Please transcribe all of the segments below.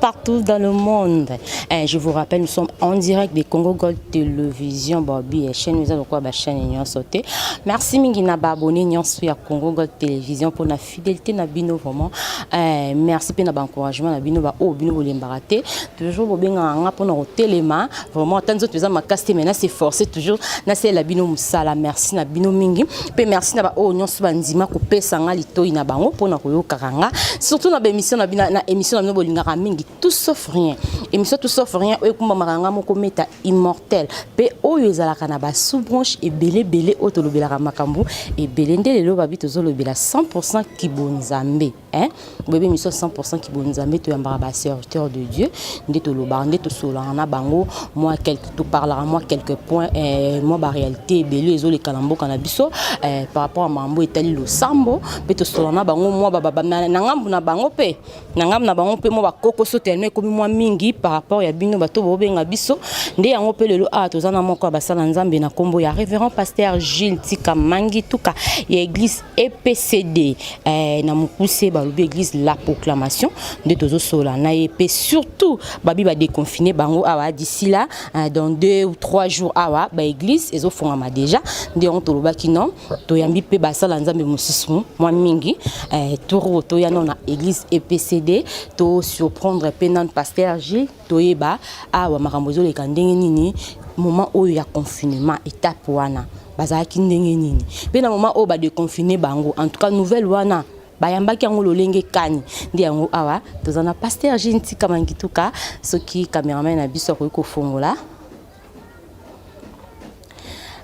partout dans le monde. Et eh, je vous rappelle, nous sommes en direct de Congo Gold Television, Bobby et chaîne, nous avons quoi, bah, chaîne Nyon sauté. Merci mingi na abonné Nyon à Congo Gold Television pour la fidélité na bino vraiment. Eh, merci pour l'encouragement na bino ba oh bino bolembaraté. Toujours bobenga nga pour na telema vraiment ata nzoto eza makasi te mais na se forcer toujours nasalela bino mosala merci na bino mingi mpe merci na baoyo nyonso bandima kopesa nga litoi na bango mpo na koyokaka nga surtout na baémission na bino na émission na bino bolingaka mingi tout sauf rien émission tout sauf rien oyo ekumbamaka nga moko meta immortel mpe oyo ezalaka na basous branche ebele ebele oyo tolobelaka makambo ebele nde lelo babi tozolobela 100 kibonzambe Hein? Bebe mission 100% ki bonzambe to yambaka ba serviteur de Dieu nde to lobaka nde to solaka na bango moi quelque to parlera moi quelques points eh, moi ba réalité ebele ezo leka na mboka na biso eh, par rapport à mambo etali losambo pe to solaka na bango moi ba ba na ngambu na bango pe na ngambu na bango pe moi ba koko so tellement ekomi moi mingi par rapport ya bino bato bobenga biso nde yango pe lelo ah toza na moko ya basala nzambe na kombo ya révérend pasteur Gilles Tika Mangi tuka ya église EPCD eh, na mukuse balobi église la proclamation nde tozosola na ye mpe surtout babi badeconfine bango awa d'ici là eh, dans deux ou trois jours awa baeglise ezofongama déjà nde yango tolobaki non toyambi mpe basala nzambe mosusu mwa mingi eh, toro toya no na église EPCD tosurprendre mpe nano pasteur Gilles Toyeba awa makambo ezoleka ndenge nini moment oyo ya confinement etape wana bazalaki ndenge nini mpe na moment oyo badeconfine bango en tout cas nouvelle wana bayambaki yango lolenge kani nde yango awa toza na pasteur jean tika mangituka soki cameraman na biso akoki kofongola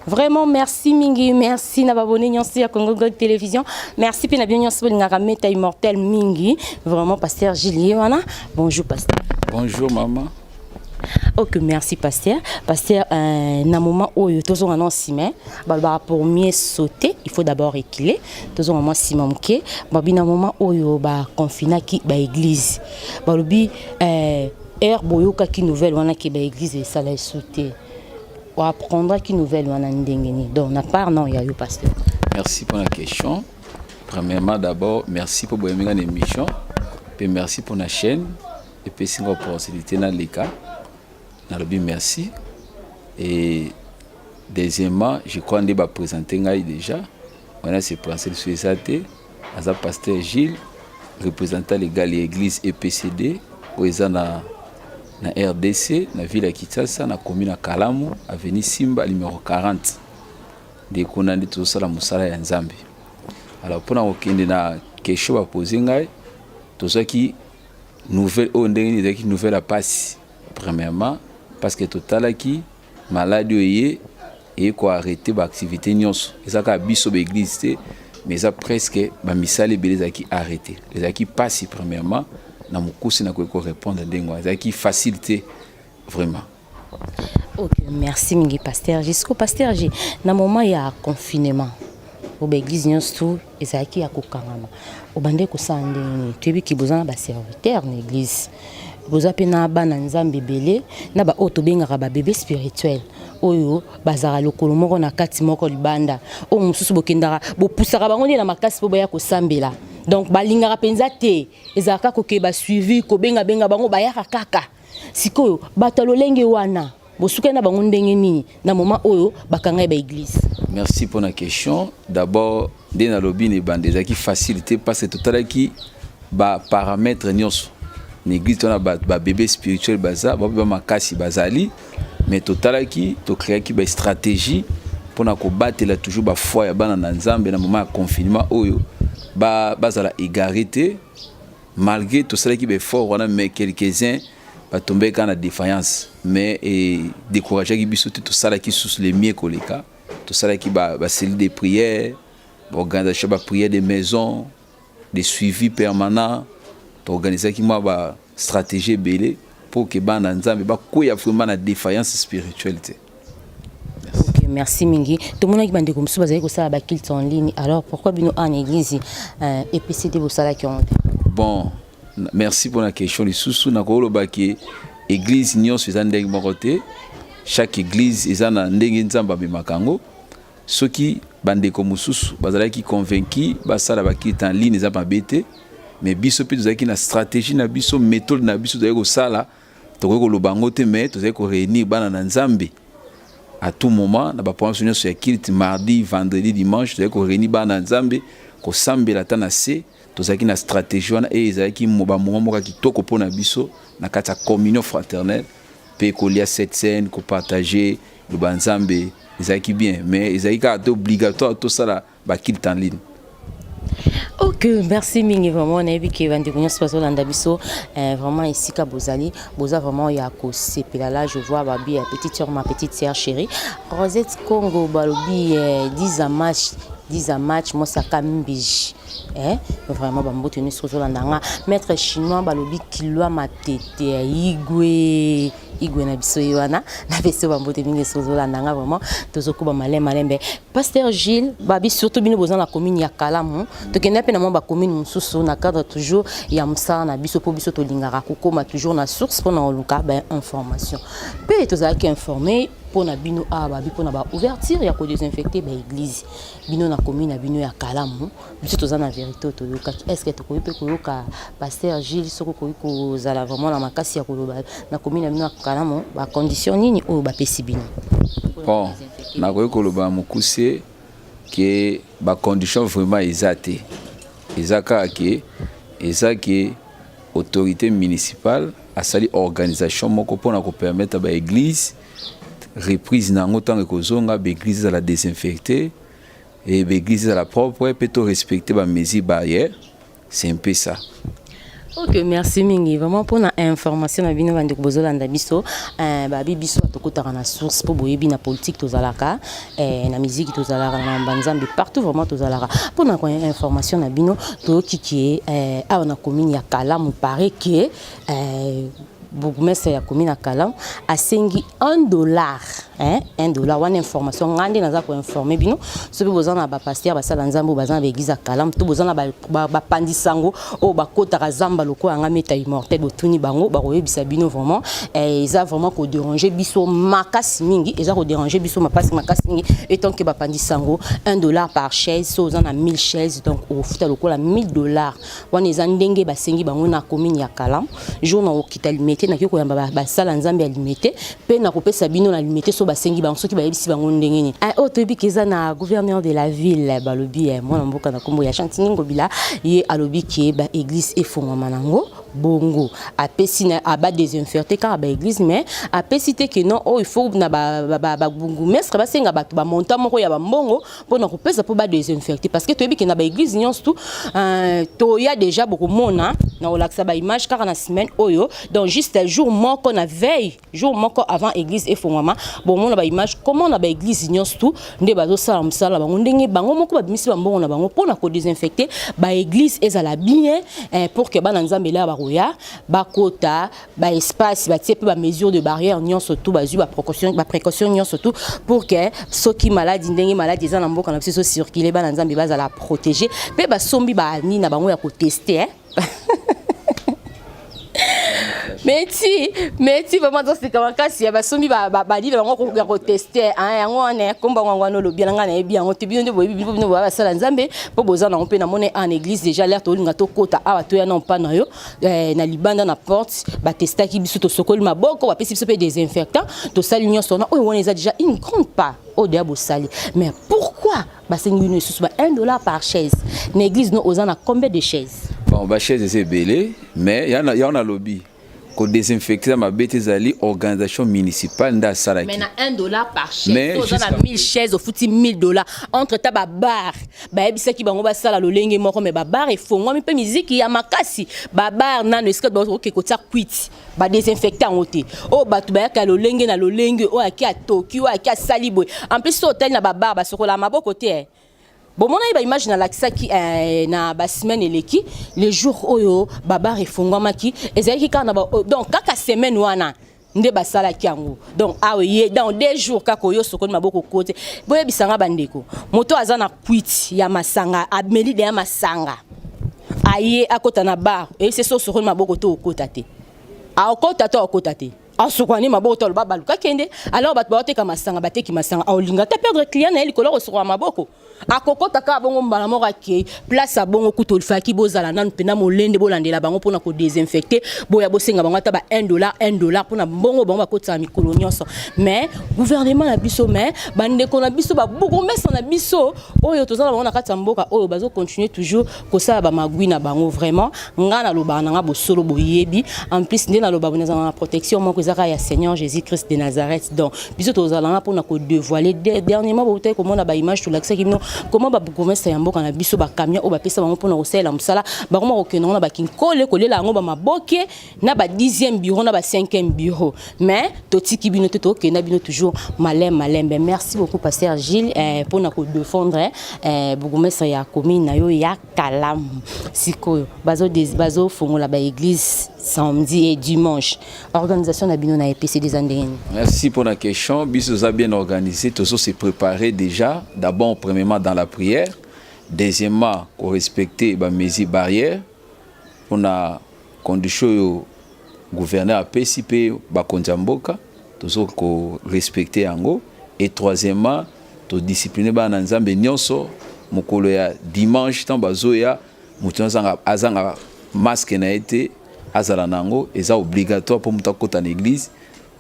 Vraiment merci mingi, merci na babone nyonso ya Congo Gold Television. Merci pe na bien nyonso bolingaka meta immortel mingi. Vraiment pasteur Gilles wana. Bonjour pasteur. Bonjour maman. Ok, merci pasteur. Pasteur, euh, na moment où il y a un ciment, bah, pour mieux sauter, il faut d'abord reculer. Tous on a ciment qui, bah, na moment où il y a un confiné qui, bah, église, bah, le euh, Heure boyokaki nouvelle wana ke ba eglise esala esu te, o apprendaki nouvelle wana ndenge nini? Donc na part na ya yo pasteur. Merci pour la question. Premièrement d'abord, merci pour boyemi na émission, pe merci pour na chaîne et pe singa opportunité na leka. Na lobi merci et deuxièmement, je crois nde ba présenter ngai déjà. Wana se penser sur ça te. Aza pasteur Gilles, représentant legal ya eglise EPCD oyo eza na na RDC na ville ya Kinshasa na commune ya Kalamu avenue Simba numero 40 nde kuna nde tozosala mosala ya Nzambe. Alors mpona kokende na kesho bapose ngai tozwaki nouvelle oyo ndenge ezalaki nouvelle ya mpasi premièrement parce que totalaki Maladi oyo eye eye ko arrete ba activite nyonso, eza kaka biso ba eglise te mais eza presque ba misala ebele ezalaki arrete. Ezalaki mpasi premièrement na mokuse nakoki ko répondre ndenge wana, ezalaki facile te vraiment. Ok, merci mingi Pasteur G. Siko Pasteur G, na moment ya confinement, oyo ba eglise nyonso ezalaki ya kokangama obandaki kosala ndenge nini toyebi ke boza na baserviteur na église boza mpe na bana nzambe ebele na baoyo tobengaka babebe spirituel oyo bazalaka lokolo moko na kati moko libanda oyo mosusu bokendaka bopusaka bango nde na makasi mpo baya kosambela donc balingaka mpenza te ezalaka koke basuivi kobengabenga bango bayaka kaka sikoyo bato ya lolenge wana bosukani na bango ndenge nini na moment oyo bakanga ye ba église merci mpo na question d'abord nde nalobi na ebanda ezalaki facile te parce que totalaki baparamètre nyonso na église wana babebe spirituel baza bape ba makasi bazali mais totalaki tokreaki bastratégie mpo na kobatela toujours bafoi ya bana na nzambe na moment ya confinement oyo bazala ba égare te Malgre tosalaki ba effort wana mais quelques uns ba tombé kaka na défaillance mais e décourageaki biso te tosalaki lisusu le mieux koleka tosalaki ba, ba cellules de prière baorganisation ba prière de maison de suivi permanent toorganisaki mwa ba stratégie ebele mpo ke bana nzambe bakweya vraiment na défaillance spirituelle te Okay, merci mingi tomonaki bandeko mosusu bazali kosala bakilte en ligne alors pourquoi bino en église euh, epcd bosalaki yango te bon merci mpona question lisusu nakolobaki église nyonso eza ndenge moko te chaque église eza na ndenge nzambe amemaka yango soki bandeko mosusu bazalaki convaincu basala bakite en ligne eza mabe te mais biso mpe tozalaki na stratégie na biso méthode na biso tozalaki kosala tokoki koloba yango te mais tozali ko réunir bana na nzambe à tout moment na baprograme biso nyonso ya kilte mardi vendredi dimanche tozali ko réunir bana na nzambe kosambela ata na se tozalaki na stratégie wana eye ezalaki bamoment moko ya kitoko mpo na biso na kati ya communion fraternelle mpe kolia cette scène kopartage loba nzambe ezalaki bien mais ezalaki kaka te obligatoire tosala ba kilt en ligne ok merci mingi vraiment nayebi ke bandeko nyonso bazolanda biso eh, vraiment esika bozali boza vraiment ya kosepela la je vois babi ya petite sœur ma petite sœur chérie rosette congo balobi eh, diza match diza match mosaka mbiji eh, vraiment bamboto nyonso ozolanda nga maître chinois balobi kilwa matete ya igwe igwe na biso ye wana napesi yo bambote mingi soki ozolanda nga vraiment tozokuba male malembe pasteur gilles babi surtout bino boza na commune ya kalamu tokenda mpe na mwa bacommune mosusu na cadre toujours ya mosala na biso mpo biso tolingaka kokóma toujours na source mpo na koluka bainformation mpe tozalaki informe mpo na bino awa babi mpo na baouverture ya kodesinfecte baeglise bino na commune ya bino ya kalamu biso toza na verite oyo toyokaki est ce que tokoki mpe koyoka paster gile soki okoki kozala vraiment na makasi ya koloba na komi na bino ya kalamo bacondition nini oyo bapesi bino bon nakoki koloba mokuse ke bacondition vraiment eza te eza kaka ke eza ke autorité municipale asali organisation moko mpo na kopermettre baeglise reprise na yango ntango ekozonga baeglise ezala desinfecte Et l'église à la propre, peut tout respecter ma mesure barrière. C'est un peu ça. Ok, merci mingi. Vraiment pour na information na bino bande kobozola nda biso, euh ba bi biso to kotaka na source pour boyebi na politique to zalaka, euh na musique to zalaka na mbanzambe partout vraiment to zalaka. Pour na information na bino to kikie euh awa na commune ya Kalamu paraît que euh bourgmestre ya commune ya Kalam asengi 1 dollar hein 1 dollar wana information ngai nde naza koinforme bino soki boza na bapaster basala nzambe oyo baza na baeglise ya Kalam to boza na bapandi sango oyo bakotaka zamba lokola ngai meta immortel botuni bango bakoyebisa bino vraiment eh, eza vraiment koderange biso makasi mingi eza koderange biso mapasi makasi mingi etant ke bapandi sango 1 dollar par chaise so oza na 1000 chaise donc okofuta lokola 1000 dollar wana eza ndenge basengi bango na commune ya Kalam jour na okita limete na kiko yamba basala nzambe ya limete pe na kopesa bino na limete so basengi bango soki bayebisi bango ndenge nini ah, oyo toyebi ke eza na gouverneur de la ville balobi eh, mwana mboka na kombo ya chantini ngobila ye alobi ke ba église efongwama nango bongo apesi na aba desinferte kaka ba église mais apesi te ke non oyo oh, il faut na ba, ba, ba, ba bourgmestre basenga bato bamontant moko ya bambongo mpo na kopesa mpo ba desinfecte parce que toyebi ke na baeglise nyonso tu euh, toya déjà bokomona na kolakisa baimage kaka na semaine oyo donc juste jour moko na veille jour moko avant église efongwama bomona baimage comment na baeglise nyonso tu nde bazosala mosala bango ndenge bango moko babimisi bambongo na bango mpo na kodesinfecte baeglise ezala bien eh, pour ke bana nzambe elaa bakoya bakota ba espace ba tiepe ba mesure de barrière nyonso tout ba ba précaution ba précaution nyonso tout pour que soki maladie ndenge maladie eza na mboka na biso circuler bana nzambe bazala protéger pe ba sombi ba ni na bango ya ko tester hein mais ti mais ti vraiment toseka makasi ya basombi balile bango kokoka koteste yango wana komba yango wana olobi na ngai nayebi yango te bino nde boyebi bino bino boya basala nzambe mpo boza nango mpe namoni en église déjà lere tolinga tokota awa toya na mpa na yo eh, na libanda na porte batestaki biso tosokoli maboko bapesi biso mpe desinfectant tosali nyonso wana oyo wana eza déjà une grande part oyo deya bosali mais pourquoi basengi bino lisusu ba 1 dollar par chaise na église no oza na combien de chaise bon bachaise eza ebele mais yango nalobi kodesinfecte na mabe te ezali organisation municipale nde asalaki mais na 1 dollar par chaise oza na 1000 chaise ofuti 1000 dollar entre ta babar bayebisaki bango basala lolenge moko me babar efongwami mpe miziki ya makasi babar nano esika baoke kotia kwiti badesinfecte yango te oyo oh, bato bayaka lolenge na lolenge oyo oh, ake atoki oyo oh, ake asali boye en plus so otali na babar basokolaka maboko te eh. bomonaki baimage nalakisaki eh, na basemaine eleki le jour oyo babar efongwamaki ezalaki kaka na ba, donc kaka semaine wana nde basalaki yango donc awa ye dans deux jours kaka oyo osokoli maboko kote boyebisa nga bandeko moto aza na kwiti ya masanga ameli deya masanga aye akota na bar eyebisi so osokoli maboko to okota te aokota to aokota te asokani maboko to aloba baluka kende alors bato baoteka masanga bateki masanga aolinga ta perdre client na ye likolo kosokola maboko akokota kaka bongo mbala moko akei place ya bongo kutu olifaki bozala nanu mpena molende bolandela bango mpona kodesinfecte boya bosenga bango ata ba 1 dollar 1 dollar mpona mbongo bango bakotisaka mikolo nyonso mais gouvernement na biso mais bandeko na biso babourgmestre na biso oyo toza na bango na kati ya mboka oyo bazocontinue toujours kosala ba magui na bango vraiment nga na loba na nga bosolo boyebi en plus nde na loba bo nazala na protection moko ezaka ya Seigneur Jésus Christ de Nazareth donc biso tozala nga pona ko dévoiler dernièrement bo tayeko mona ba image to lakisa kino comment ba bourgmestre ya mboka na biso ba camion o ba pesa bango pona kosalela musala ba koma kokenda na ba kinkole kolela yango ba maboke na ba 10e bureau na ba 5e bureau mais totiki bino te tokenda bino toujours malem malembe merci beaucoup pasteur Gilles eh, pona ko défendre eh, eh bourgmestre ya commune na yo ya Kalamu sikoyo bazo bazo fongola ba église samedi et dimanche organisation na bino na EPC des ndenge merci pour la question biso za bien organisé tozo se préparer déjà d'abord premièrement dans la prière deuxièmement ko respecter ba mesures barrières pona condition yo gouverneur apesi pe bakonzi ya mboka tozo ko respecter yango et troisièmement to discipliner bana nzambe nionso mokolo ya dimanche ntango bazoya moto azanga, azanga maske na ye te azala na yango eza obligatoire mpo moto akota na église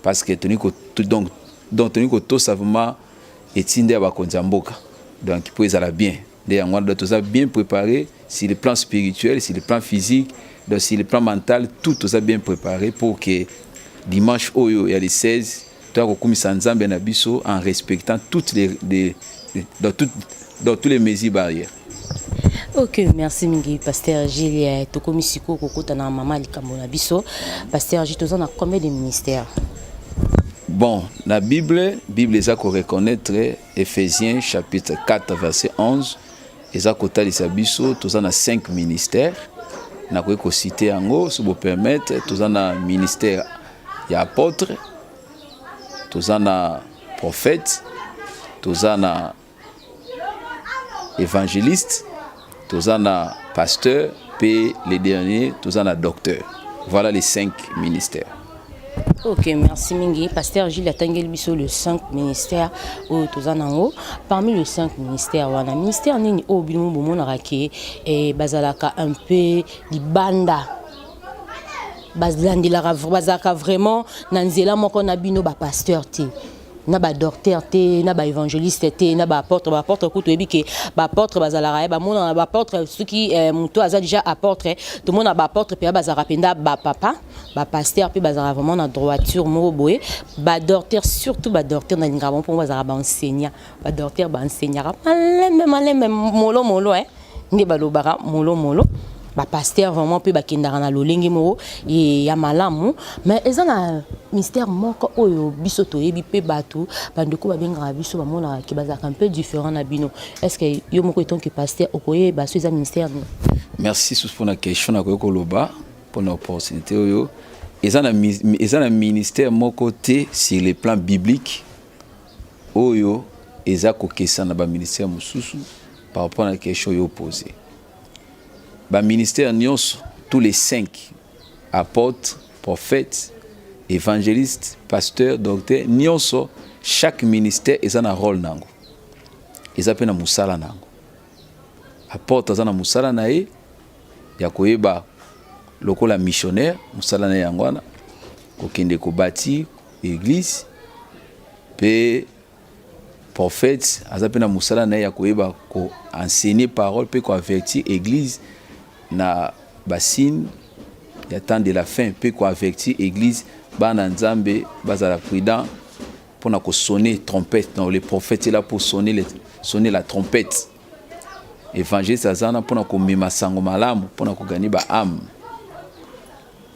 parce que toni ko, donc, donc toni kotosa vraiment etinda ya bakonzi ya mboka donc mpo ezala bien nde yango wana toza bien prépare sur le plan spirituel sur le plan physique donc sur le plan mental tout toza bien prépare pour que dimanche oyo ya le 16 toya kokumisa nzambe na biso en respectant toutes les, les dans, tout, dans tous les mesures barrières ok merci mingi pasteur gile tokomi sikoyo kokota na mama likambo na biso pasteur gile toza na combien de ministère bon na bible bible eza koreconnaitre Ephésiens chapitre 4 verset 11 eza kotalisa biso toza na 5 ministères nakoki kosite yango si bopermettre toza na ministère ya apôtre toza na prophète toza na évangéliste toza na pasteur mpe le dernier toza na docteur voilà les cinq ministères ok merci mingi pasteur jules atangeli biso le 5 ministère oyo toza nango parmi le 5 ministère wana ministère nini oyo bino bomonaka ke eh, bazalaka un peu libanda balandelaka bazalaka vraiment na nzela moko na bino bapasteur te na ba docteur te na ba évangéliste te na ba apôtre ba apôtre kutu yebi ke ba apôtre bazalaka ye bamona ba apôtre soki eh, moto aza déjà apôtre tomona ba apôtre mpe bazalaka mpenza ba papa ba pasteur mpe bazalaka vraiment na droiture moko boye ba docteur surtout ba docteur nalingaka bango mpo bazalaka ba enseignant ba docteur ba enseignaka malembe malembe molo molo eh. nde balobaka molomolo bapastere vraiment mpe bakendaka na lolenge moko ya malamu mais eza na mystère moko oyo biso toyebi mpe bato bandeko babengaka biso bamonaka ke bazalaka mpe différent na bino est ce que yo moko etant que pasteur okoyeba so eza mystère nini merci susu mpona question nakoki koloba mpona opportunité oyo eza na ministère moko te sur le plan biblique Oyo eza kokesana na ba ministères mosusu par rapport na question yo pose. Ba ministères nyonso tous les cinq apôtres, prophètes, évangélistes, pasteurs, docteurs nyonso chaque ministère eza na rôle nango. Eza pe na musala nango. Apôtre aza na musala na ye ya koyeba lokola missionnaire musala na ye yango wana kokende kobati église Pe prophète aza pe na musala na ye ya koyeba ko enseigner parole pe ko avertir église na ba signes ya temps de la fin pe ko avertir église bana Nzambe bazala prudent pona ko sonner trompette. Donc le prophète est là pour sonner le, sonner la trompette. Évangéliste aza na pona komema sango malamu pona ko gagner ba âmes.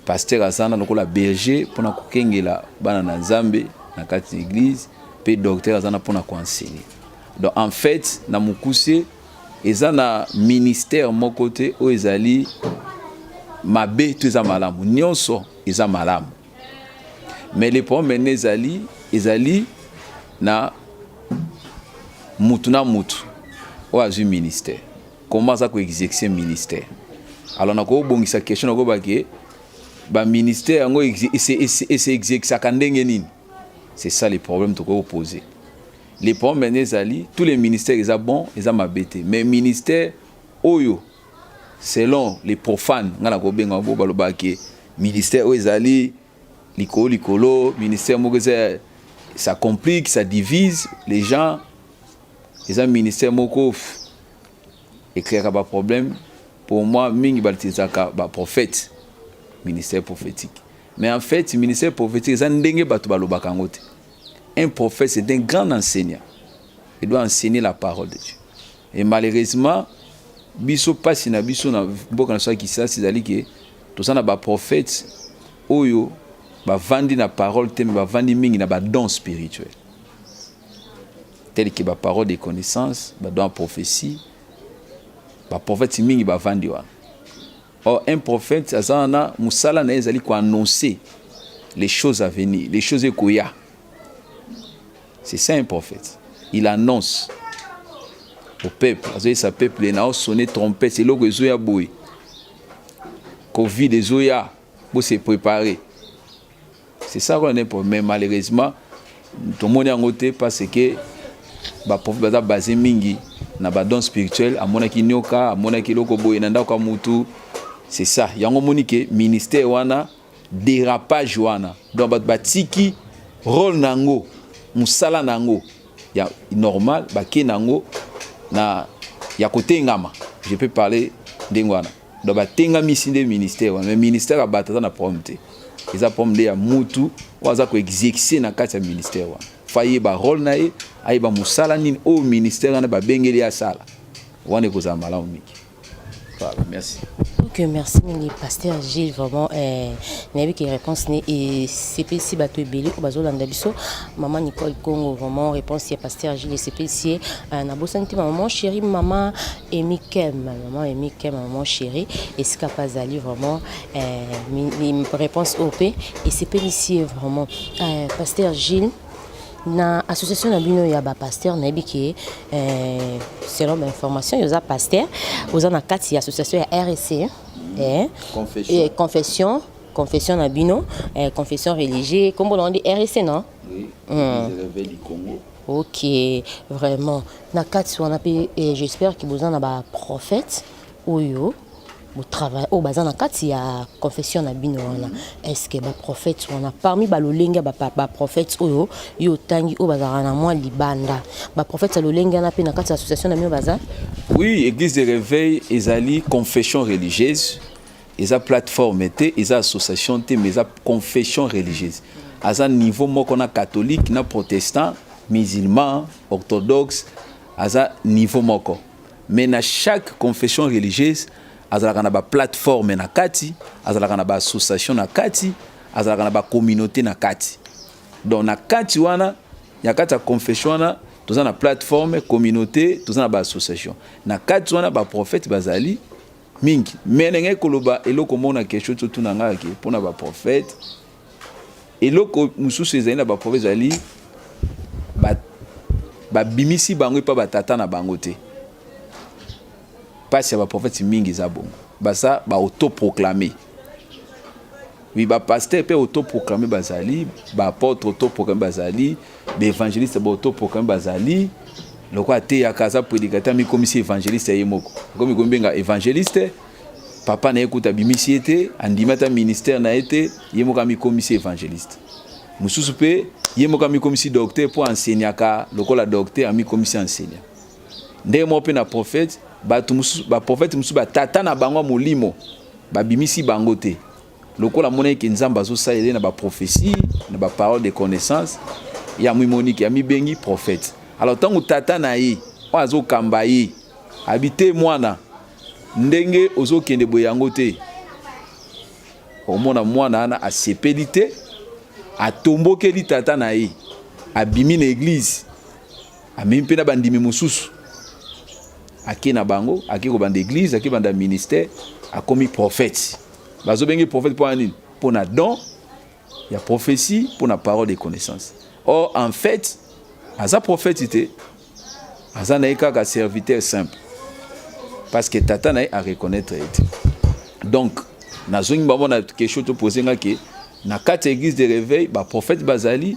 Pasteur azana lokola berger pona kokengela bana na Nzambe na kati na eglise pe docteur azana pona ko enseigner. Donc en fait na mukuse eza na ministère moko te oyo ezali mabe to eza malamu nyonso eza malamu mais le problème ene ezali ezali na mutu na mutu oyo azwi ministère Comment ça ko exercer ministère? Alors na ko bongisa question na ko ba ke ba ministère yango c'est exercer ka ndenge nini? C'est ça le problème to ko poser. Le problème n'est ali tous les ministères ils a bon, ils a mabete. Mais ministère oyo selon les profanes nga na ko benga ngo ba loba ke ministère oyo ezali likolo likolo ministère moko eza ça complique ça divise les gens eza ministère moko ecreaka ba problème pour moi mingi batilisaka ba prophète ministère prophétique mais en fait ministère prophétique eza ndenge bato balobaka yango te un prophète c'est un grand enseignant il doit enseigner la parole de dieu et malheureusement biso mpasi na biso na mboka na biso ya kisasi ezali ke toza na baprofete oyo bavandi na parole te me bavandi mingi na badon spirituel telle que ba parole de connaissance ba doit prophétie ba prophète mingi ba vandi wana or un prophète aza na musala na ezali ko annoncer les choses à venir les choses ekoya c'est ça un prophète il annonce au peuple azoyesa peuple na osone trompete eloko ezoya boye covid ezoya Bo se préparer. C'est ça qu'on a pour mais malheureusement tomoni yango te parce que ba prophète baza basé mingi na ba dons spirituels amonaki nyoka amonaki eloko boye na ndako ya mutu c'est ça yango omoni ke ministère wana dérapage wana donc bato batiki role na yango mosala na yango ya normal bake na yango na ya kotengama je peux parler ndenge wana donc batengamisi nde ministère wana mais ministère ya bato aza na problème te eza problème nde ya mutu oyo aza koexexe na kati ya ministère wana fa ayeba role na ye ayeba mosala nini oyo ministère wana babengeli ye asala wana ekozala malamu mingi voilà merci ok merci mingi pasteur gilles vraiment eh, nayebi ke réponse ne esepelisi bato ebele oyo bazolanda biso mama nicole congo vraiment réponse ya pasteur gilles esepelisi ye eh, nabosani te mama mon chéri mama emikem Maman Emike, maman chérie, esika pa zali vraiment euh, réponse OP et c'est pélicier vraiment. Euh, pasteur Gilles, na association na bino ya ba pasteur nayebi ke euh, selon ba information yoza pasteur oza na kati ya association ya RSC hein? mm. eh, confession. Eh, confession confession na bino eh, confession religieux kombo na ndi RSC non oui, mm. les du Congo Ok vraiment na kati wana pe eh, j'espère que boza na ba prophètes oyo bo travail oyo baza na kati ya confession na bino wana est-ce que ba prophètes wana parmi ba lolenge ya ba, pa- ba prophètes oyo yo otangi oyo bazalaka na mwa libanda ba prophètes ya lolenge wana pe na kati ya association na bino baza Oui, Église de Réveil ezali confession religieuse eza plateforme te eza association te mais eza confession religieuse aza niveau moko na catholique na protestant musulman orthodoxe aza niveau moko mais na chaque confession religieuse azalaka na baplateforme na kati azalaka na baassociation na kati azalaka na bacommunauté na kati donc na kati wana ya kati ya confession wana toza na plateforme communauté toza na baassociation na kati wana baprofete bazali mingi me nengaki koloba eloko moko na kesho ti otuna ngaki mpo na baprofete eloko mosusu ezali na baprofete ezali babimisi ba bango epa batata na bango te mpasi ya baprofete mingi eza bongo baza baautoproclame Oui, ba pasteur pe autoproclamé bazali, ba apôtre autoproclamé bazali, ba évangéliste ba autoproclamé bazali. Loko ateyaka aza prédicateur mikomisi évangéliste ye moko. Komi kombenga évangéliste, papa na ye kuta bimisi ye te, andimi ata ministère na ye te, ye moko amikomisi évangéliste. Mosusu pe ye moko amikomisi docteur po enseignaka lokola docteur amikomisi enseignant. Ndenge moko pe na prophète, bato mosusu ba prophète mosusu ba tata na bango ya molimo Babimisi bango te. Lokola amonaki ke Nzambe azosalela ye na ba prophetie, na ba parole de connaissance, ye amimoni ke amibengi prophète. Alors ntango tata na ye oyo azokamba ye abi te mwana, ndenge ozokende boye yango te, okomona mwana wana asepeli te, atombokeli tata na ye, abimi na eglise. Amemi mpe na bandimi mosusu, ake na bango, ake kobanda eglise, ake banda ministère, akomi prophète. Bazobenge prophète mpo na nini? Mpo na don ya prophetie, mpo na parole de connaissance. Or en fait, aza prophète te, aza na ye kaka serviteur simple, parce que tata na ye a reconnaître ye te. Donc nazongi bamona question topose nga ke na kati ya eglise de réveil baprophète bazali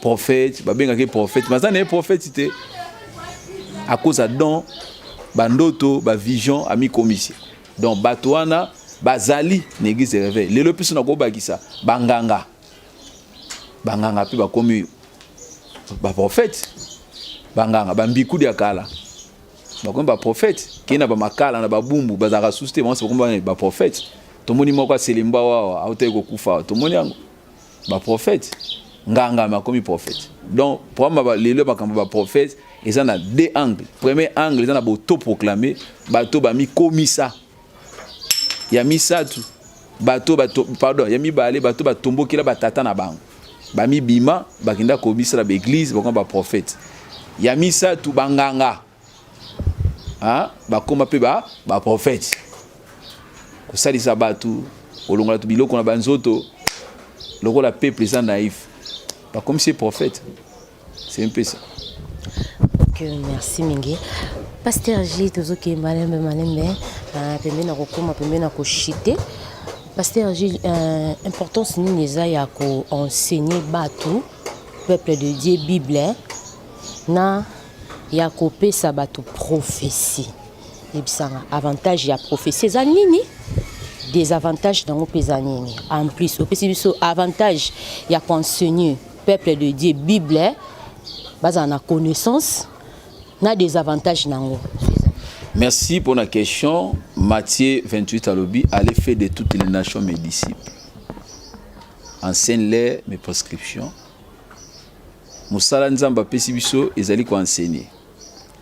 prophète babengaka ye prophète mais aza na ye prophète te akoza don bandoto bavision amikomisi donc bato wana bazali na église de réveil lelo mpe so nakobakisa banganga banganga mpe bakomi baprofete banganga bambikudi ya kala bakomi baprofete kei na bamakala na babumbu bazalaka susu te banso bakomi baprofete tomoni moko aselemba wawa autaki kokufa tomoni yango ba prophète nganga makomi prophète donc problème ba lelo makambo ba prophète eza na deux angles premier angle eza na boto proclamer bato bamikomisa ya misato bato bato pardon ya mibale bato batombokela batata na bango bamibima bakenda komisala baeglize bakoma baprofete ya misato banganga hein bakoma pe ba ba prophète kosalisa bato kolongola to biloko na banzoto lokola peuple eza naïf bakomisi ye prophète c'est un peu ça okay, merci mingi pasteur g tozokende malembe malembe ah, pembeni na kokoma pembeni na koshite pasteur g euh, importance nini eza ya koenseigne bato peuple de dieu bible na ya kopesa bato prophetie yebisa nga avantage ya prophetie eza nini desavantage nango mpe eza nini en plus opesi biso avantage ya koenseigne peuple de dieu bible bazala na connaissance na desavantage nango merci mpona question mathieu 28 alobi allez fait de toutes les nations mes disciples enseigne les mes prescriptions Mosala Nzambe apesi biso ezali ko enseigner.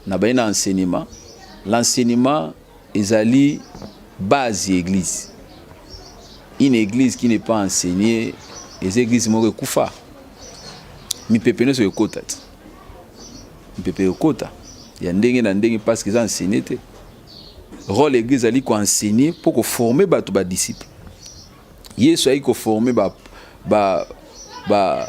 Na baye na enseignement, l'enseignement ezali base ya eglise. Une eglise qui n'est pas enseignée, eza eglise moko ekufa. Mipepe nyonso ekota te. Mipepe ekota ya ndenge na ndenge parce que eza enseigné te. Rôle ya eglise ezali ko enseigner mpo ko former bato ba disciples. Yesu ayaki ko former ba ba ba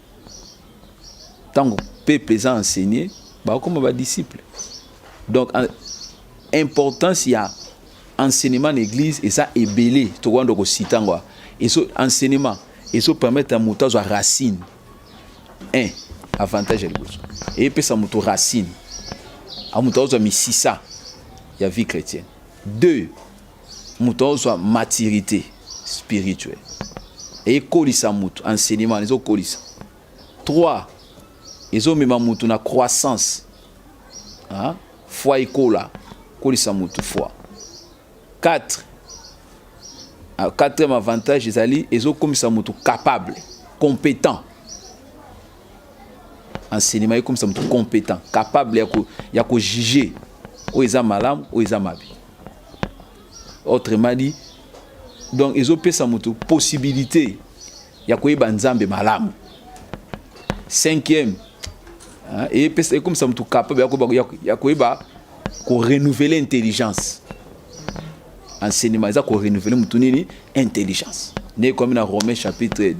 ntango peuple eza enseigné bakokoma badisciple donc importance ya enseignement na église eza ebele tokoyanda kosita yango ezo enseignement ezo permettre ya moto azwa racine un avantage ya liboso eyepesa moto racine amoto azwa misisa ya vie chrétienne deux moto azwa maturité spirituelle ekolisa moto enseignement ezokolisa 3 ezomema moto na croissance hein? foi ekola kolisa moto foi 4 ah, quatrième avantage ezali ezokomisa moto capable compétent enseignement ekomisa moto compétent capable ya kojuge oyo eza malamu oyo eza mabe autrement dit donc ezopesa moto possibilité ya koyeba nzambe malamu cinquième epesa ekomisa moto capable ya koyeba korenouveler intelligence enseignement eza korenouveler moto nini intelligence nde ekomi na romain chapitre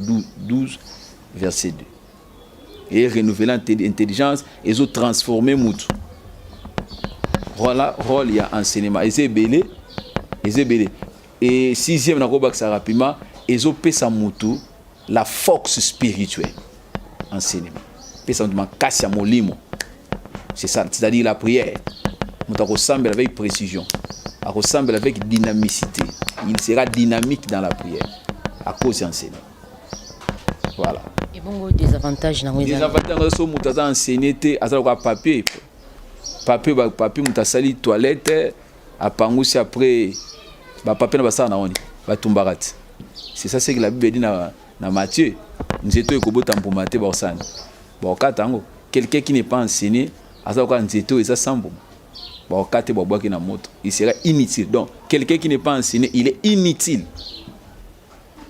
12 verset 2 et renouveler intelligence et zo transformer mutu voilà rôle ya enseignement eza ebele eza ebele et sixième nakobakisa rapidement ezopesa mutu la force spirituelle enseignement pesa mutu makasi ya molimo c'est ça c'est-à-dire la prière mutu akosambela avec précision akosambela avec dynamicité il sera dynamique dans la prière à cause ya enseignement voilà et bongo désavantage nango eza désavantage nango so moto aza enseigné te aza lokola papier papier ba papier moto asali toilette apangusi après ba papier na basala na wani batumbaka ti c'est ça ce que la bible dit na na Matthieu nzete oyo ekobota mbuma te bakosala nini bakokata yango quelqu'un qui n'est pas enseigné aza lokola nzete oyo eza sans mbuma bakokata te babwaki na moto il sera inutile donc quelqu'un qui n'est pas enseigné il est inutile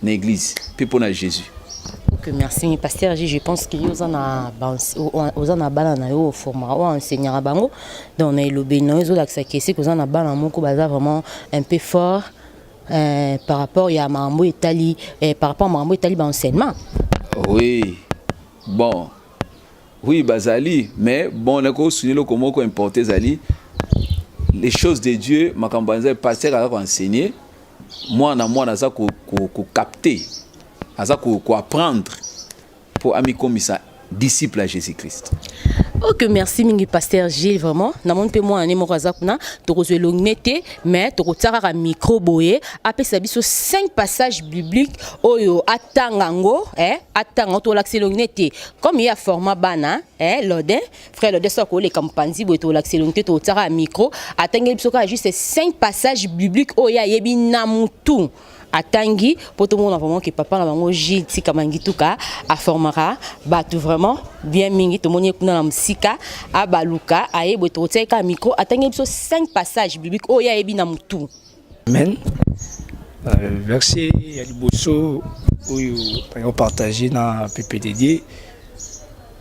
na église mpe mpo na Jesus. Ok, merci. Mais pasteur, je pense que aux ana aux ana bana na yo forma o enseignera bango donc na elobe na yo la que c'est aux ana bana moko baza vraiment un peu fort euh, par rapport ya mambo etali euh, par rapport mambo etali ba enseignement. Oui. Bon. Oui, bazali, mais bon na ko souligner le komoko importer zali les choses de Dieu makambo nzai pasteur a enseigner mwana mwana aza kokapte ko, ko aza koapprendre ko mpo amikomisa disciple ya jésus christ ok merci mingi pasteur gilles vraiment namoni mpe mwana ne moko aza kuna tokozwa elongne te mais tokotia kaka micro boye apesa biso 5 passage biblique oyo atanga yango eh, atanga yango tolakisa elongne te comme ye aforma bana eh, lodin frère Lodia soki akoleka mopanzi boye tolakisa elongi te totiaka ya micro atangeli biso kaka juste 5 passage biblique oyo ye ayebi na motu atangi mpo tomona vraiment ke papa na bango gile tika mangituka aformaka bato vraiment bien mingi tomoni ye kuna na mosika abaluka aye boye tokotiaki kaka micro atangeli biso 5 passage biblique oyo ye ayebi na motu Amen. Euh, verset ya liboso oyo nayo partage na pepe dedie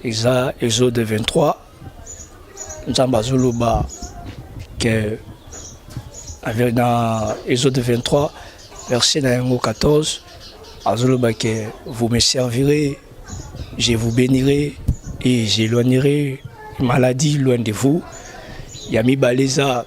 eza exode 23 nzambe azoloba ke na exode 23 verset na yango 14 azoloba ke vous me servirez je vous bénirai et j'éloignerai maladie loin de vous ya mibale eza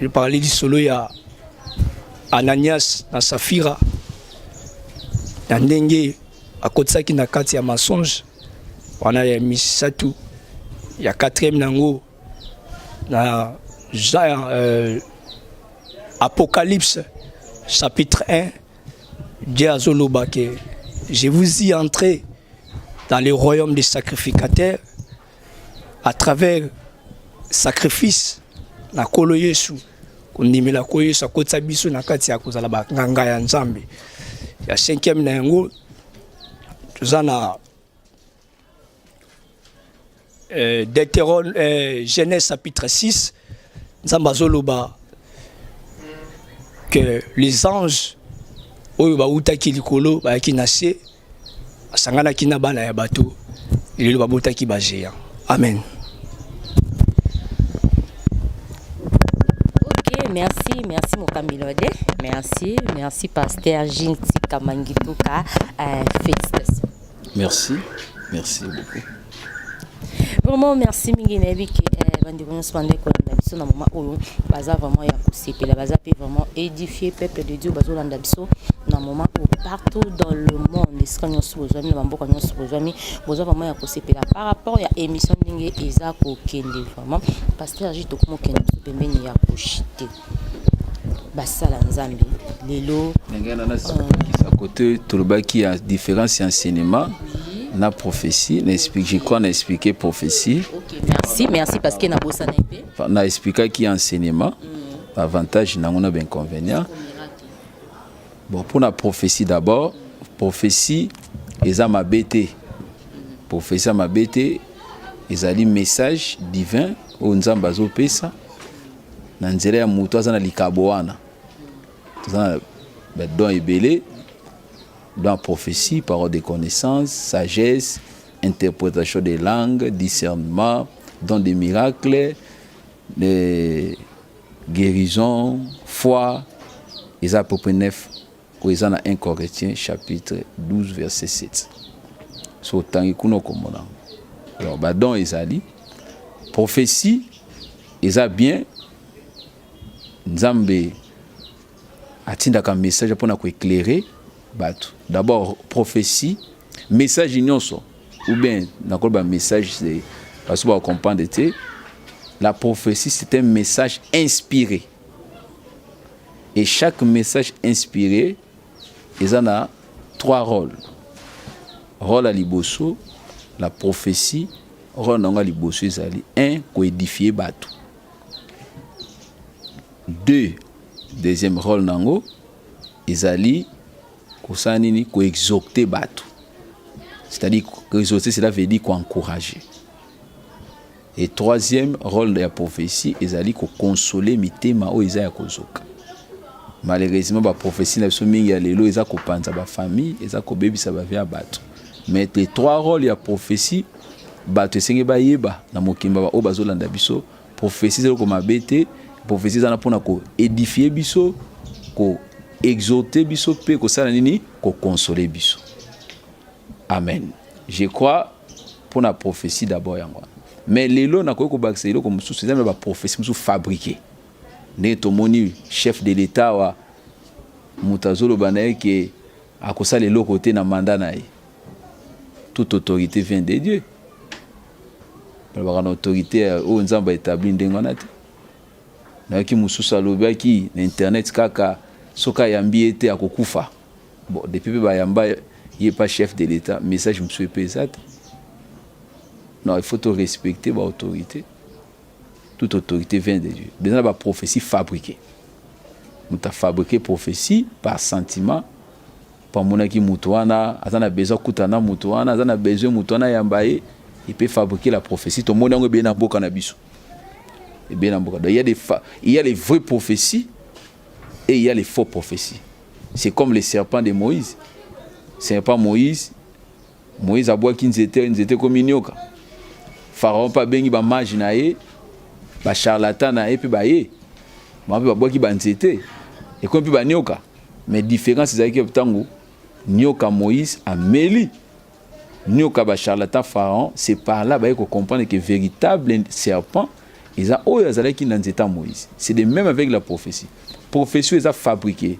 Je parlais lisolo ya Ananias na Safira na ndenge akotisaki na kati ya mensonge wana ya misato ya quatrième nango na Jean, euh, Apocalypse chapitre 1 Dieu azoloba que je vous y entrez dans le royaume des sacrificateurs à travers sacrifice na kolo yesu kondimela ko yesu akotisa biso na kati ya kozala banganga ya nzambe ya cinquième na yango toza na euh, deuterone euh, genèse chapitre 6 nzambe azoloba que les anges oyo bautaki likolo bayaki na se asanganaki na bana ya bato lelo babotaki ba géant amen merci merci mokambi lode merci merci pasteur jinti kamangituka euh, félicitations merci merci beaucoup Vraiment merci mingi na yebi ke eh, bandeko nyonso bandai kolanda biso na moma oyo baza vraiment ya kosepela baza mpe vraiment édifie peuple de Dieu bazolanda biso na moma oyo partout dans le monde esika nyonso bozwami na bamboka nyonso bozwami boza vraiment ya kosepela par rapport ya émission ndenge eza kokende vraiment pasteur ji tokomokende biso pembeni ya koshite basala nzambe lelo ndenge wana nazokisa euh, kote tolobaki ya différence ya enseignement na prophétie na explique je crois na expliquer prophétie okay, merci merci parce que na bosana ete na expliquaki enseignement mm. avantage nango na b'inconvénient bon mpo na prophétie d'abord prophétie eza mabe te prophétie ya mabe te ezali message divin oyo nzambe azopesa na nzela ya moto aza na likabo wana toza na badon ebele dans prophétie parole de connaissance sagesse interprétation des langues discernement don des miracles de guérison foi eza à peu près neuf Oyo eza na 1 Corinthiens chapitre 12 verset 7. So otangi kuna okomona yango. Donc ba dons ezali prophetie eza bien Nzambe atindaka message mpona koeclaire bato d'abord prophetie message nyonso ou bien nakoloba message baso bacomprendre te la prophétie c'est un message inspiré Et chaque message inspiré ils en a trois rôles. Rôle à liboso, la prophétie, rôle à liboso ezali un coédifier bateau. Deux, deuxième rôle nango ezali kosala nini koexocte bateau. C'est-à-dire koexocte cela veut dire encourager. Et troisième, role ya prophetie ezali ko consoler mitema oyo eza ya kozoka. Malheureusement ba prophetie na biso mingi ya lelo eza kopanza ba famille, eza kobebisa ba vie ya bato. Mais les trois rôles ya prophetie bato esenge bayeba na mokimba ba oyo bazolanda biso prophetie eza eloko mabe te prophetie eza na mpona ko édifie biso ko exhorte biso mpe kosala nini kokonsole biso Amen. Je crois pour la prophétie d'abord yango. Mais lelo na koyoko bakisa eloko mususu eza ba prophétie mususu fabriquer. Ne tomoni chef de l'État wa mutazolo banaye ke akosala eloko te na mandat na ye. Toute autorité vient de Dieu. balobaka na autorité euh, oyo nzambe aétabli ndenge wana te nayoki mosusu alobaki na internet kaka soki ayambi ye te akokufa Bon, depuis pe bayamba ye pas chef de l'État, message mosusu epe eza te. Non, il faut to respecter ba autorités. Toute autorité vient de Dieu. Beza na ba prophéties fabriquées. Moto afabrike prophétie par sentiment po amonaki moto wana aza na besoin akuta na moto wana aza na besoin moto wana ayamba ye epe fabrike la prophétie tomoni yango ebele na mboka na biso ebele na mboka donc il y a des il y a les vraies prophéties Et il y a les faux prophéties. C'est comme les serpents de Moïse. Serpent Moïse, Moïse abwaki nzete, nzete ekomi nyoka. Pharaon mpe abengi bamage na ye, bacharlatan na ye mpe baye. Bango mpe babwaki banzete, ekomi mpe banyoka. Mais différence ezalaki ntango nyoka Moïse ameli Nioka ba charlatan pharaon c'est par là baye ko comprendre que veritable serpent eza oyo azalaki na nzeta Moïse. C'est de même avec la prophétie. Prophétie eza fabriquée.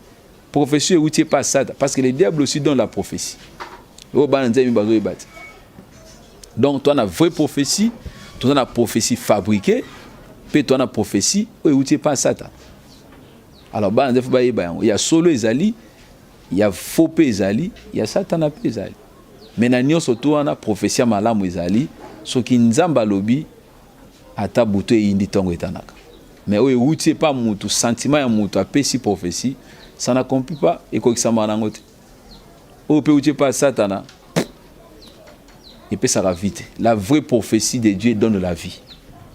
Prophétie euti epa Satan parce que le diable aussi donne la prophétie. Oyo bana nzambe bazoyeba te. Donc toi na vraie prophétie, toi na prophétie fabriquée, pe toi na prophétie oyo euti epa Satan. Alors bana nzambe bayeba yango. Ya solo ezali Ya faux pe ezali, ya satana pe ezali. Mais na nionso tout wana prophetie malamu ezali soki Nzambe alobi ata butu eyindi tongo etanaka. Mais oyo ewuti epa mutu, sentiment ya mutu apesi prophetie, ça n'accomplit pas, ekokisama nango te. Oyo pe ewuti epa satana epesaka vie te. La vraie prophetie de Dieu donne la vie.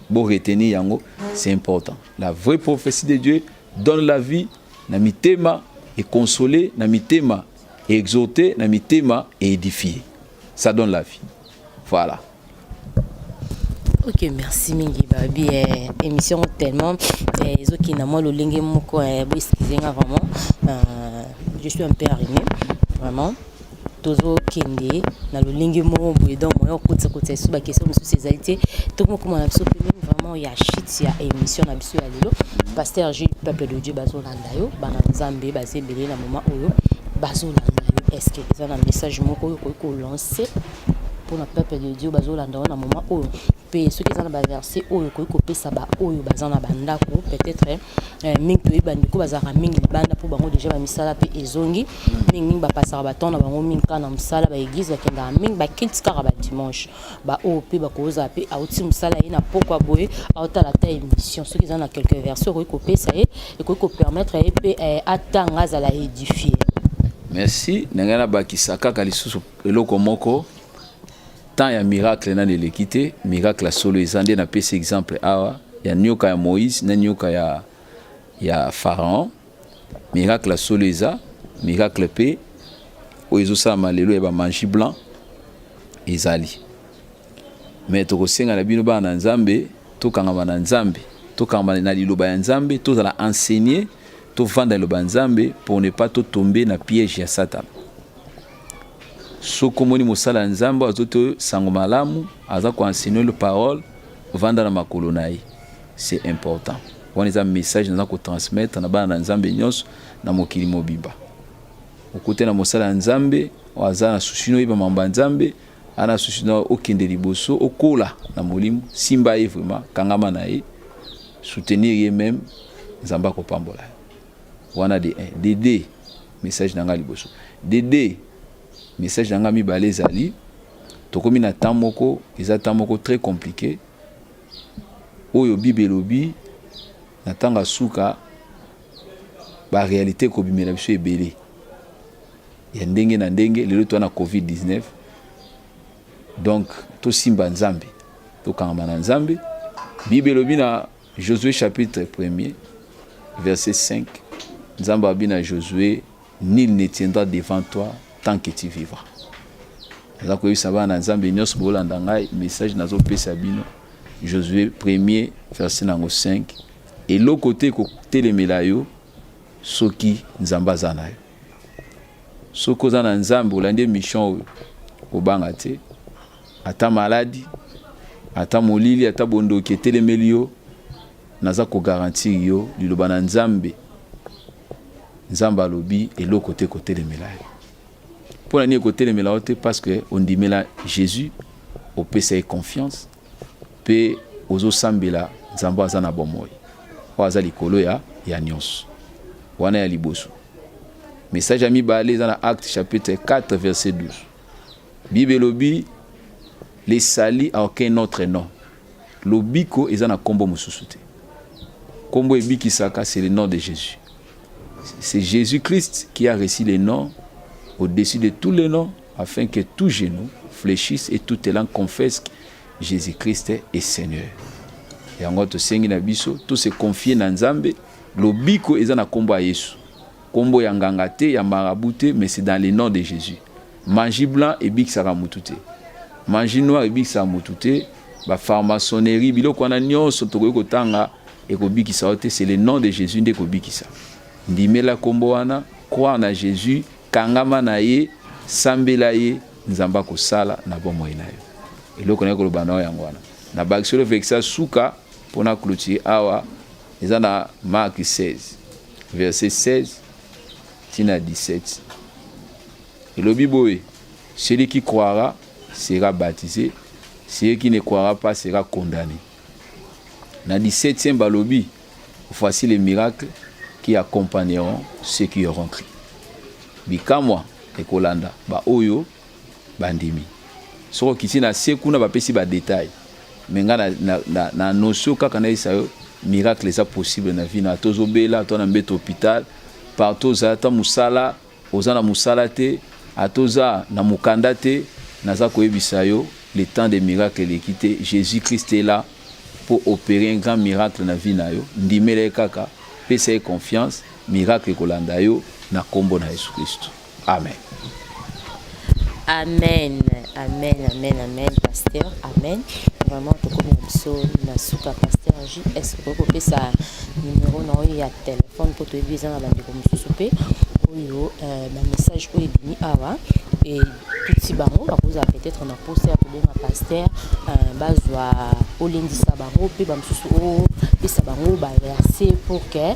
Bo retenir yango, c'est important. La vraie prophetie de Dieu Donne la vie na mitema et consoler na mitema et exhorter na mitema et édifier. Ça donne la vie. Voilà. ok merci mingi babi eh, émission tellement eh, ezokenda mwa lolenge moko eh, boeskize nga vraiment euh, je suis un peu arrimé vraiment tozo kende na lolenge moko boye donc moyen okotisa kotisa lisusu ba question mosusu ezali te tokomokoma na biso pembeni vraiment ya chute ya émission na biso ya lelo pasteur jules peuple de dieu bazolanda yo bana nzambe baza ebele na moment oyo bazolanda yo estce eza na message moko oyo okoki kolance mpona peuple de dieu bazolanda yo na moment oyo mpe soki eza na baverse oyo okoki kopesa baoyo baza na bandako peut-être Eh, mingi toyebi bandeko bazalaka mingi libanda mpo bango deja bamisala mpe ezongi hmm. mingi mingi bapasaka batemp na bango mingi kaka na mosala baeglize bakendaka mingi bakilti kaka badimanche baoyo mpe bakozala mpe auti mosala ye na pokwa boye aotala ata émission soki eza na quelque version ekoki kopesa ye ekoki kopermettre ye mpe eh, atanga azala édifie merci na ngai nabakisa kaka lisusu eloko moko temps ya miracle nani eleki te miracle ya solo eza nde napesi exemple awa ya nioka ya moïse na nioka ya, ya pharaon miracle ya solo eza miracle mpe oyo ezosalama lelo ya bamagie blanc ezali me tokosenga na bino bana na nzambe tokangama na nzambe tokangama na liloba ya nzambe tozala enseigner tovanda liloba ya nzambe pour ne pas totombe na piège ya satana Soki omoni mosala ya Nzambe oyo azo te sango malamu, aza ko enseigner le parole, vanda na makolo na ye. C'est important. Wana eza message naza ko transmettre na bana na Nzambe nyonso na mokili mobimba. Okute na mosala ya Nzambe, oyo aza na susi noyeba mambo ya Nzambe, ana susi na okende liboso, okola na molimo, simba ye vraiment, kangama na ye, soutenir ye meme, Nzambe akopambola yo. wana de 1 de 2 message na ngai liboso de 2 message na ngai mibale ezali tokomi na temps moko eza temps moko très compliqué oyo bible elobi na ntango ya suka baréalité ekobimela biso ebele ya ndenge na ndenge lelo toa na covid-19 donc tosimba nzambe tokangama na nzambe bible elobi na Josue chapitre premier verset 5 Nzambe alobi na Josue, nul ne tiendra devant toi tant que tu vivras. Naza koyebisa bana na Nzambe nyonso bolanda ngai, message nazopesa bino Josue premier verset nango 5 eloko te kotelemela yo soki Nzambe aza na yo. Soki oza na Nzambe olandi mission oyo, kobanga te. Ata maladi, ata molili, ata bondoki etelemeli yo, naza ko garantir yo liloba na Nzambe. Nzambe alobi eloko te kotelemela yo. Mpo na nini ekotelemela yo te? Parce que ondimela Jésus, opesa ye confiance mpe ozosambela Nzambe aza na bomoi oyo aza likolo ya, ya nyonso. Wana ya liboso. Message ya mibale eza na Acte chapitre 4 verset 12. Bible elobi le sali a aucun autre nom. Lobiko eza na kombo mosusu te. Kombo ebikisaka c'est le nom de Jésus. C'est Jésus-Christ qui a reçu le nom au-dessus de tous les noms afin que tout genou fléchisse et toute langue confesse que Jésus-Christ est Seigneur. Yango tosengi na biso to se confier na Nzambe lobiko eza na kombo ya Yesu. Kombo ya nganga te ya marabout te mais c'est dans le nom de Jésus. Magie blanc ebikisaka mutu te. Magie noire ebikisaka mutu te. Ba pharmaçonnerie biloko wana nyonso tokoki kotanga ekobikisa yo te. C'est le nom de Jésus nde ekobikisa. Ndimela kombo wana, croire na Jésus, kangama na ye, sambela ye, Nzambe akosala na bomoi na yo. Eloko na koloba na yo yango wana. Na bakisolo vekisa suka pona clôture awa eza na Marc 16 verset 16 tina 17. Elobi boye, Celui qui croira sera baptise, celui qui ne croira pas sera condamne. Na 17e balobi, Voici les miracles qui accompagneront ceux qui auront cru. Bikamwa ekolanda ba oyo bandimi. Soko kiti na se kuna bapesi ba detail. Mais nga na, na, na, na annonce kaka na yesa yo miracle eza possible na vie na tozobela to na mbeto hôpital partout ozala ta musala Oza na musala te ata oza na mukanda te naza koyebisa yo le temps de miracle eleki te Jesus Christ est là pour operer un grand miracle na vie na yo ndimela ye kaka pesa ye confiance miracle ekolanda yo na kombo na Jesus Christ amen. Amen amen amen amen pasteur amen vraiment tokomi na biso na suka pasteur js okoki kopesa numero na oyo ya telefone mpo toyebi eza na bandeko mosusu mpe oyo euh, bamessage oyo ebimi awa e tuti bango bakozala peut-être na mposa ya kobenga pasteur euh, bazwa olendisa bango mpe bamosusu opesa bango baverse pour que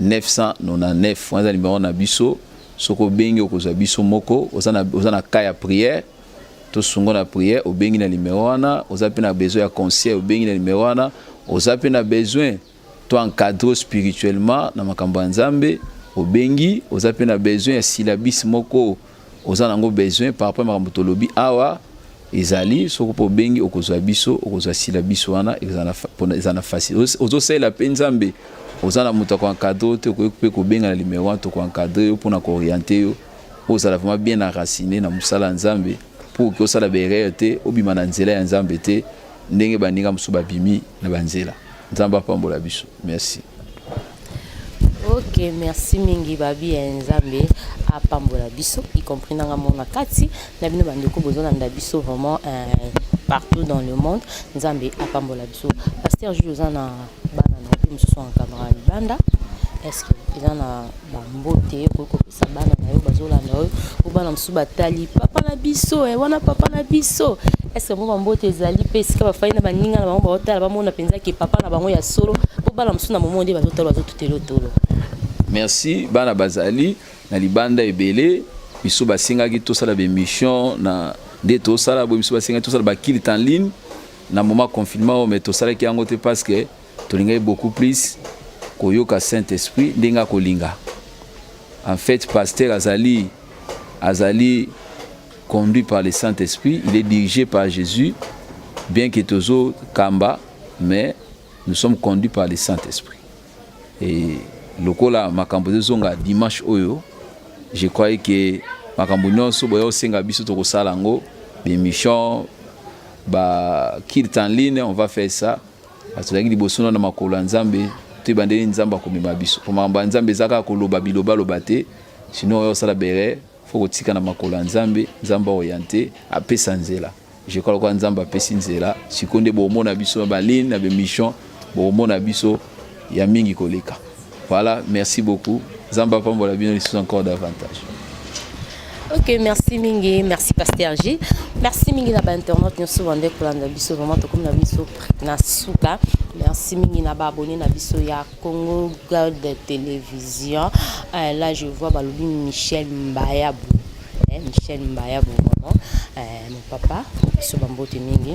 999 wana eza nimero na biso soki obengi okozwa biso moko oza na, oza na cas ya prière tosungo na prière obengi na nimero wana oza mpe na besoin ya conseil obengi na nimero wana oza mpe na besoin to encadre spirituellement na makambo ya nzambe obengi oza mpe na besoin ya syllabus moko oza nango besoin par rapport makambo tolobi awa ezali soko mpo obengi okozwa biso okozwa sila biso wana eza na facile ozosalela mpe nzambe oza na moto akoencadre te okoki mpe kobenga na limero wana tokoencadre yo mpona kooriente yo mpo ozala vraiment bien enracine na mosala ya nzambe mpo okoki osala baerreur te obima na nzela ya nzambe te ndenge baninga mosusu babimi na banzela Nzambe apambola biso. Merci. Ok, merci mingi babi ya Nzambe apambola biso y compris nanga mona kati na bino bandeko bozolanda biso vraiment euh, partout dans le monde Nzambe apambola biso. Pasteur Jules oza na bana na yo mosusu en camarade libanda est-ce que eza na na mbote okoki kopesa bana na yo bazolanda yo po bana mosusu batali papa na biso eh, wana papa na biso eske yango bambote ezali mpe esika bafai na baninga na bango baotala bamona mpenza ke papa na bango ya solo mpo bana mosusu na momo nde bazotala bazotutelotolo merci bana bazali na libanda ebele biso basengaki tosala bemission na nde tosala boye biso basengaki tosala bakilite en ligne na moment confinement oyo me tosalaki yango te parce que Tolingaki beaucoup plus koyoka Saint Esprit ndenge akolinga. En fait, pasteur azali azali conduit par le Saint Esprit, il est dirigé par Jésus, bien que tozo kamba, mais nous sommes conduits par le Saint Esprit. Et lokola makambo ezonga dimanche oyo je croyais que makambo nyonso boya osenga biso tokosala yango bemission bakirte en ligne on va faire ça Bato tozalaki liboso na makolo ya Nzambe, toyeba ndenge Nzambe akomema biso. Mpo makambo ya Nzambe eza kaka koloba bilobaloba te, sino oyo osala bere fo kotika na makolo ya Nzambe, Nzambe aoriente, apesa nzela. Je crois lokola Nzambe apesi nzela, sikoyo nde bomona biso na baline na bemission, bomona biso ya mingi koleka voilà merci beaucoup zamba pambola bino lisusu encore davantage ok merci mingi merci pasteur g merci mingi na bainternet nyonso bande kolanda biso vraiment tokomi na biso na suka merci mingi na baabone na biso ya congo god télévision euh, là je vois balobi michel mbayabu Eh, Michel Mbaya Bongomo, eh, mon papa, biso bambote mingi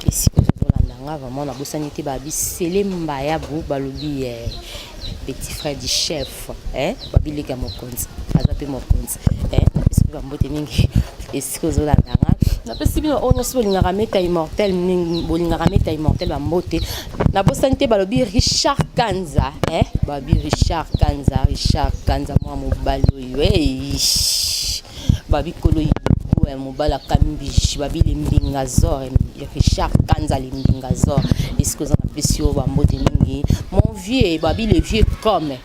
esika ozozolanda nga vraiment nabosani te babisele Mbayabu balobi eh, petit frère du chef eh, babilika mokonzi aza mpe mokonzi eh, napesi mpe bambote mingi esika ozolanda nga napesi bino oyo nyonso bolingaka meta immortel bolingaka meta immortel bambote nabosani te balobi richard kanza eh, balobi richard kanza richard kanza mwa mobali babikolo yibogo ya mobala kambishi babili mbinga zor richard kanza limbinga zor esika oza na pesi yo bambote mingi mon vieux babi le vieux comme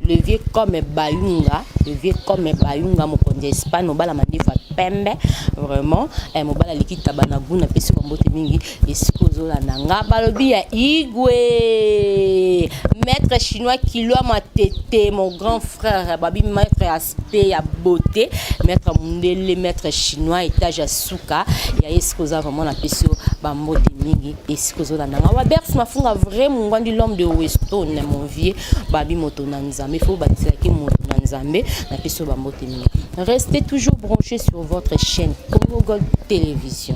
le vieux comme bayunga le vieux comme bayunga mokonzi ya espagne mobala mandefu ya pembe vraiment eh, mobala aliki taba na gout napesi bambote mingi esika ozolanda nga balobi ya igwe maître chinois kilwa matete mon grand frère babi maître aspect ya beauté maître mundele maître chinois étage ya suka ya esika oza vraiment na pesi yo bambote mingi esika ozolanda nga wabers mafunga vrai mongwandi l'homme de weston mon vieux babi moto na nzambe fo bakiselaki moto na nzambe na pesi yo bambote mingi restez toujours branché sur votre chaîne congo gold télévision